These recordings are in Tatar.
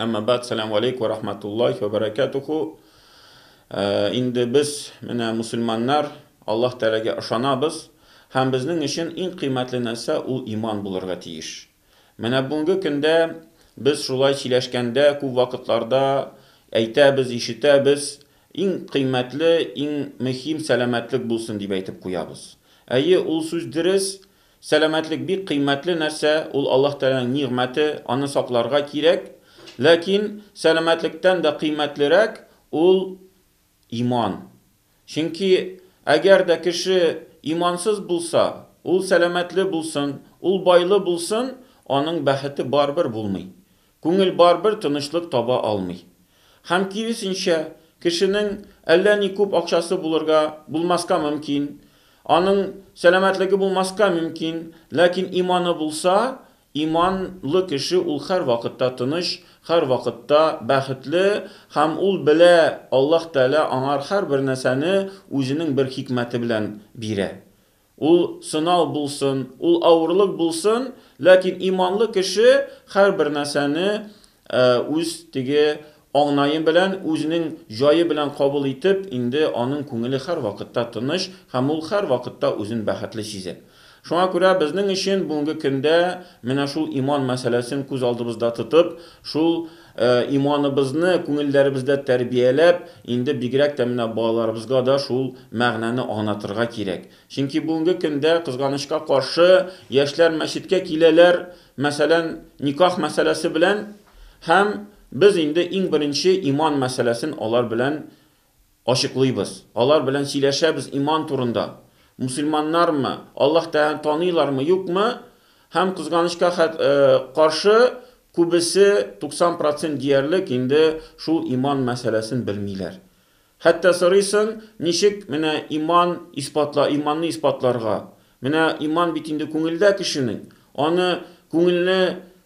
Әмма бәд, сәлам алейк вә рахматуллахи вә бәрәкәтуху. Э, инде без, менә мусульманнар, Аллаһ Тәгаләгә ышанабыз, һәм безнең өчен иң кыйммәтле нәрсә ул иман булырга тиеш. Менә бүгенге көндә без шулай сөйләшкәндә, күп вакытларда әйтәбез, ишетәбез, иң кыйммәтле, иң мөһим сәламәтлек булсын дип әйтеп куябыз. Әйе, ул сүз дөрес, Сәламәтлек бик кыйммәтле нәрсә, ул Аллаһ Тәгаләнең нигъмәте, аны сакларга кирәк. Ләкин сәламәтлектән дә кыйммәтлерәк ул иман. Чөнки әгәр дә кеше имансыз булса, ул сәламәтле булсын, ул байлы булсын, аның бәхете барыбер булмый. Күңел барыбер тынычлык таба алмый. Һәм киресенчә, кешенең әллә ни күп акчасы булырга, булмаска мөмкин, аның сәламәтлеге булмаска мөмкин, ләкин иманы булса, иман лы кеше ул һәрвакытта тыныч, һәрвакытта бәхетле һәм ул белә, Аллаһ Тәгалә аңар һәрбер нәрсәне үзенең бер хикмәте белән бирә. Ул сынау булсын, ул авырлык булсын, ләкин иманлы кеше һәрбер нәрсәне үз теге аңнае белән, үзенең җае белән кабул итеп, инде аның күңеле һәрвакытта тыныч һәм ул һәрвакытта үзен бәхетле сизә. Шуңа күрә безнең өчен бүгенге көндә менә шул иман мәсьәләсен күз алдыбызда тотып, шул Иманыбызны күңелләребездә тәрбияләп, инде бигрәк тә менә балаларыбызга да шул мәгънәне аңлатырга кирәк. Чөнки бүгенге көндә, кызганычка каршы, яшьләр мәчеткә киләләр, мәсәлән, никах мәсьәләсе белән, һәм без инде иң беренче иман мәсьәләсен алар белән Ачыклыйбыз. Алар белән сөйләшәбез иман турында. Мөселманнармы, Аллаһ Тәгаләне таныйлармы, юкмы? Һәм, кызганычка каршы, күбесе, 90 процент диярлек, инде шул иман мәсьәләсен белмиләр. Хәтта сорыйсың, ничек менә иман исбатла, иманны исбатларга? Менә иман бит инде күңелдә кешенең. Аны күңелне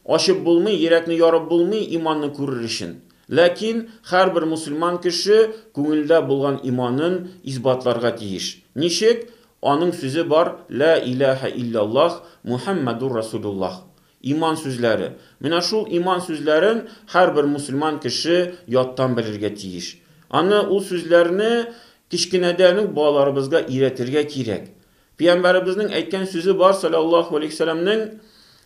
ачып булмый, йөрәкне ярып булмый иманны күрер өчен. Ләкин һәрбер мусульман кеше күңелдә булган иманын исбатларга тиеш. Ничек? Аның сүзе бар, Лә иләһә илляллаһ Мухәммәдур Расулуллаһ. Иман сүзләре. Менә шул иман сүзләрен һәрбер мусульман кеше яттан белергә тиеш. Аны, ул сүзләрне кечкенәдән үк балаларыбызга өйрәтергә кирәк. Пиямбәребезнең әйткән сүзе бар саләллаһу алейһиссәләмнең,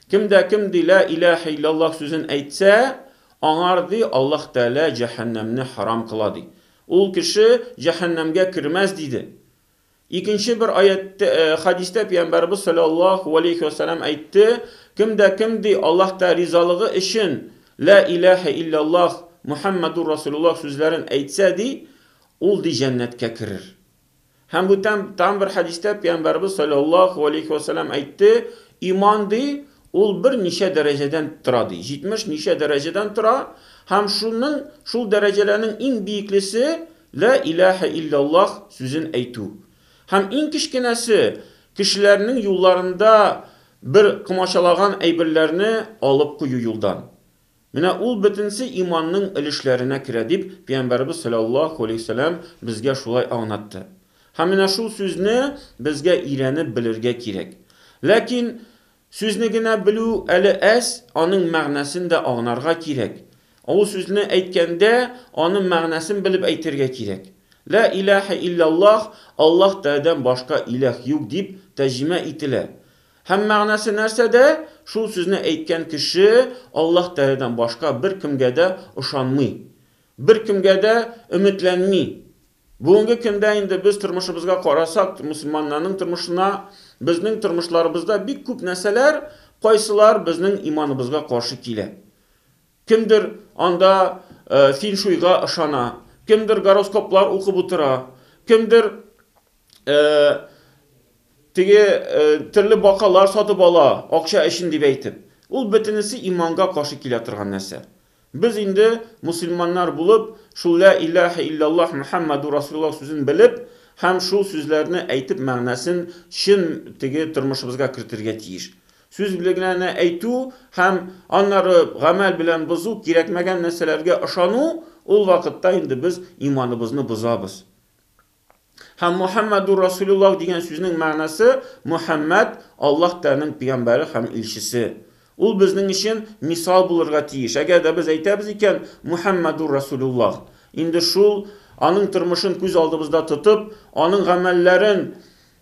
Кем дә кем ди лә иләһә илләллаһ сүзен әйтсә, аңар ди Аллаһ Тәгалә җәһәннәмне харам кыла ди. Ул кеше җәһәннәмгә кермәс диде. Икенче бер аятьтә, хәдистә пиямбәребез саләллаһу алейһи вә сәләм әйтте, Кем дә кем ди Аллаһ Тәгалә ризалыгы өчен лә иләһә илләллаһ Мухәммәдур Расулуллаһ сүзләрен әйтсә ди, ул ди җәннәткә керер. Һәм бу тәм, тәм бер хәдистә Пәйгамбәрбез салләллаһу галәйһи ва сәлләм әйтте, иман ди, ул бер ничә дәрәҗәдән тора ди, 70 ничә дәрәҗәдән тора, һәм шуның, шул дәрәҗәләрнең иң биеклесе, Лә иләһә илләллаһ сүзен әйтү. Һәм иң кечкенәсе, кешеләрнең юлларында бер комачалаган әйберләрне алып кую юлдан. Менә ул бөтенесе иманның өлешләренә керә, дип Пәйгамбәребез салләллаһу галәйһи вә сәлләм безгә шулай аңнатты. Һәм менә шул сүзне безгә өйрәнеп белергә кирәк. Ләкин сүзне генә белү әле әз, аның мәгънәсен дә агнарга кирәк. Ул сүзне әйткәндә, аның мәгънәсен белеп әйтергә кирәк. Лә иләһә илләллаһ, Аллаһ тәәдән башка иләһ юк, дип тәҗимә ителә. Һәм мәгънәсе нәрсәдә? Шул сүзне әйткән кеше Аллаһ Тәгаләдән башка беркемгә дә ышанмый, беркемгә дә өметләнми. Бүгенге көндә инде без тормышыбызга карасак, мөселманнарның тормышына, безнең тормышларыбызда бик күп нәрсәләр, кайсылар безнең иманыбызга каршы килә. Кемдер анда фин-шуйга ышана, кемдер гороскоплар укып утыра, кемдер теге төрле бакалар сатып ала, акча өчен дип әйтеп. Ул бөтенесе иманга каршы килә торган нәрсә. Без инде мусульманнар булып, шул лә илаһә иллаллаһ Мөхәммәдү Расулуллаһ сүзен белеп һәм шул сүзләрне әйтеп мәгънәсен чын теге тормышыбызга кертергә тиеш. Сүз белән әйтү һәм аннары гамәл белән бозу, кирәкмәгән нәрсәләргә ышану, ул вакытта инде без иманыбызны бозабыз. Һәм Мухаммадур Расулуллах дигән сүзнең мәгънәсе Мухаммад, Аллаһ Тәгаләнең пигамбәре һәм илчесе. Ул безнең өчен мисал булырга тиеш. Әгәр дә без әйтәбез икән, Мухаммадур Расулуллах, инде шул, аның тормышын күз алдыбызда тотып, аның гамәлләрен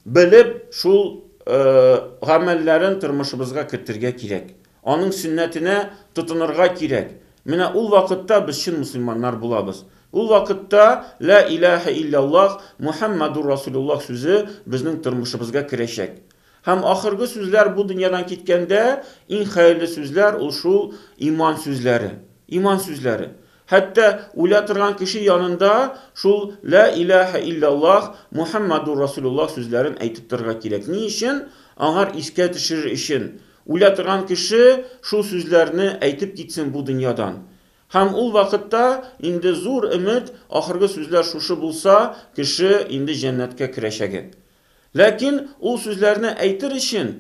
белеп, шул гамәлләрен тормышыбызга кертергә кирәк. Аның сөннәтенә тотынырга кирәк. Менә ул вакытта без чын мөселманнар булабыз. Ул вакытта Лә иләһә илляллаһ Мухәммәдур Расулуллаһ сүзе безнең тормышыбызга керәчәк. Һәм ахыргы сүзләр бу дөньядан киткәндә иң хәерле сүзләр ул шул иман сүзләре. Иман сүзләре. Хәтта үлә торган кеше янында шул Лә иләһә илляллаһ Мухәммәдур Расулуллаһ сүзләрен әйтеп торырга кирәк. Ни өчен? Аңар искә төшерер өчен. Үлә торган кеше шул сүзләрне әйтеп китсен бу дөньядан. Һәм ул вакытта инде зур өмет, ахыргы сүзләр шушы булса, кеше инде җәннәткә керәчәге. Ләкин ул сүзләрне әйтер өчен,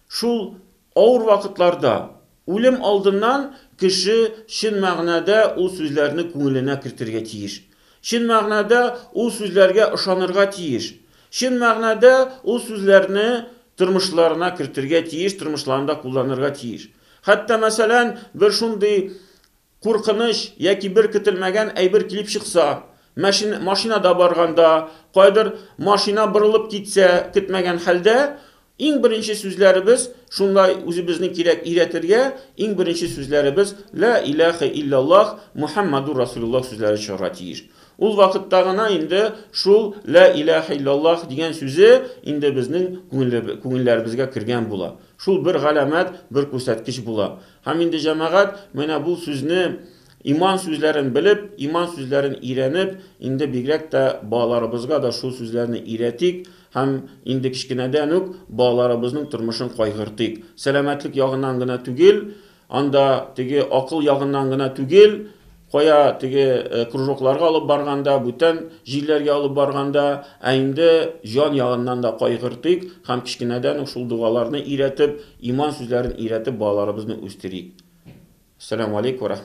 шул авыр вакытларда, үлем алдыннан кеше чын мәгънәдә ул сүзләрне күңеленә кертергә тиеш. Чын мәгънәдә ул сүзләргә ышанырга тиеш. Чын мәгънәдә ул сүзләрне тормышларына кертергә тиеш, тормышларында кулланырга тиеш. Хәтта, мәсәлән, бер шундый куркыныч яки бер көтелмәгән әйбер килеп чыкса, мәшин, машинада барганда, каядыр машина борылып китсә, көтмәгән хәлдә, Иң беренче сүзләребез, шунлай үзебезне кирәк өйрәтергә, иң беренче сүзләребез Лә иләхә илләллаһ Мухәммәдүр Расулиллаһ сүзләре чыгарга тиеш. Ул вакытта гына инде шул Лә иләхә илләллаһ дигән сүзе инде безнең күңелләребезгә кергән була. Шул бер галәмәт, бер күрсәткеч була. Һәм инде җәмәгать менә бу сүзне, иман сүзләрен белеп, иман сүзләрен өйрәнеп, инде бигрәк тә балаларыбызга да шул сүзләрне өйрәтик, Һәм инде кечкенәдән үк балаларыбызның тормышын кайгыртыйк. Сәламәтлек ягыннан гына түгел, анда теге акыл ягыннан гына түгел, кая теге кружокларга алып барганда, бүтән җирләргә алып барганда, ә инде җан ягыннан да кайгыртыйк һәм кечкенәдән үк шул догаларны өйрәтеп, иман сүзләрен өйрәтеп балаларыбызны үстерик. Әссәламү алейк вә